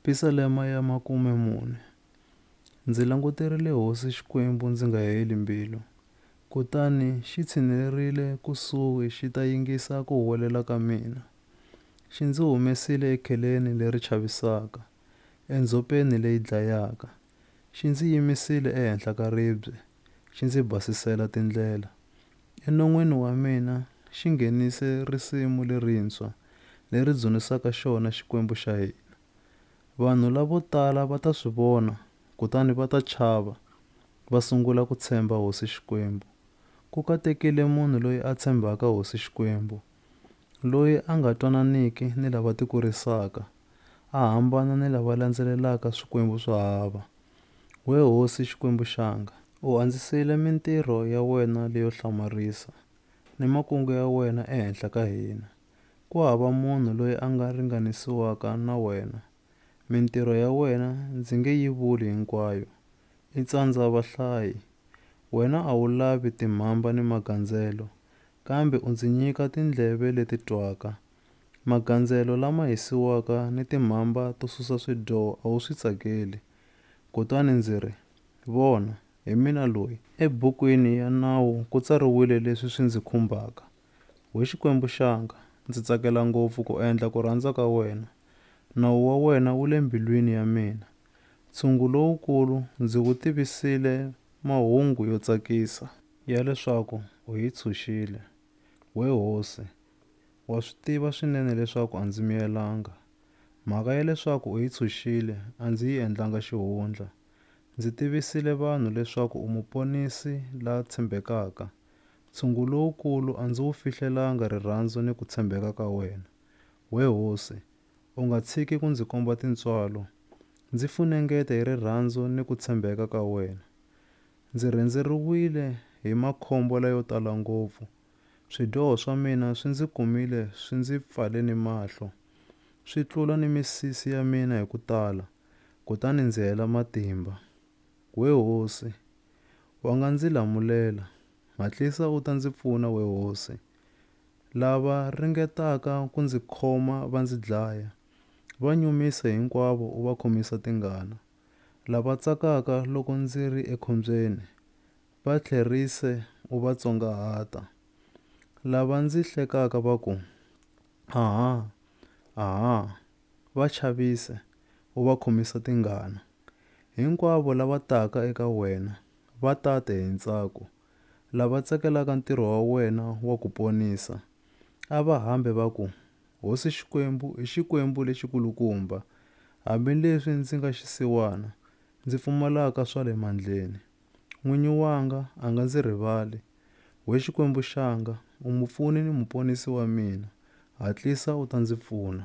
Pisalema ya makume mune. Ndzi languterile Hosi Xikwembu ndzi nga heli mbilu, kutani xi tshinelerile kusuhi xi ta yingisa ku huwelela ka mina. Xi ndzi humesile ekheleni leri chavisaka, endzhopeni leyi dlayaka. Xi ndzi yimisile ehenhla ka ribye, xi ndzi basisela tindlela. Enon'weni wa mina xi nghenise risimu lerintshwa, leri dzunisaka xona Xikwembu xa hina. Vanhu lavo tala va ta swi vona kutani va ta chava, va sungula ku tshemba Hosi Xikwembu. Ku katekile munhu loyi a tshembaka Hosi Xikwembu. loyi a nga twananiki ni lava tikurisaka, a hambana ni lava landzelelaka swikwembu swa hava. We hosi Xikwembu xanga, u andzisile mintirho ya wena leyo hlamarisa, ni makungu ya wena ehenhla ka hina. Ku hava munhu loyi a nga ringanisiwaka na wena, mintirho ya wena ndzi nge yi vuli hinkwayo, i tsandza vahlayi. Wena a wu lavi timhamba ni magandzelo, kambe u ndzi nyika tindleve leti twaka. Magandzelo lama hisiwaka ni timhamba to susa swidyoho a wu swi tsakeli. Kutani ndzi ri, Vona, hi mina loyi. Ebukwini ya Nawu ku tsariwile leswi swi ndzi khumbaka, We Xikwembu xanga, ndzi tsakela ngopfu ku endla ku rhandza ka wena. Nawu wa wena wu le mbilwini ya mina. Ntshungu lowukulu ndzi wu tivisile mahungu yo tsakisa. ya leswaku u yi tshunxile. We hosi, wa swi tiva swinene leswaku a ndzi miyelanga. Mhaka ya leswaku u yi tshunxile a ndzi yi endlanga xihundla. Ndzi tivisile vanhu leswaku u muponisi la tshembekaka. Ntshungu lowukulu a ndzi wu fihlelanga rirhandzu ni ku tshembeka ka wena. We hosi, u nga tshiki ku ndzi komba tintswalo. Ndzi funengeta hi rirhandzu ni ku tshembeka ka wena. Ndzi rhendzeriwile hi makhombo layo tala ngopfu. Swidyoho swa mina swi ndzi kumile swi ndzi pfale ni mahlo, swi tlula ni misisi ya mina hi ku tala, kutani ndzi hela matimba. We hosi, wa nga ndzi lamulela, hatlisa u ta ndzi pfuna, we hosi. Lava ringetaka ku ndzi khoma va ndzi dlaya, va nyumisa hinkwavo u va khomisa tingana. lava tsakaka loko ndzi ri ekhombyeni, va tlherise u va tsongahata. Lava ndzi hlekaka va ku, Aha! Aha! va chavise u va khomisa tingana. Hinkwavo lava taka eka wena va ta te hi ntsako, lava tsakelaka ntirho wa wena wa ku ponisa, a va hambe va ku, Hosi Xikwembu i Xikwembu lexi kulukumba, hambi leswi ndzi nga xisiwana, ndzi pfumalaka swa le mandleni. N'winyi wanga a nga ndzi rivali. We Xikwembu xanga, u mupfuni ni muponisi wa mina, hatlisa u ta ndzi pfuna.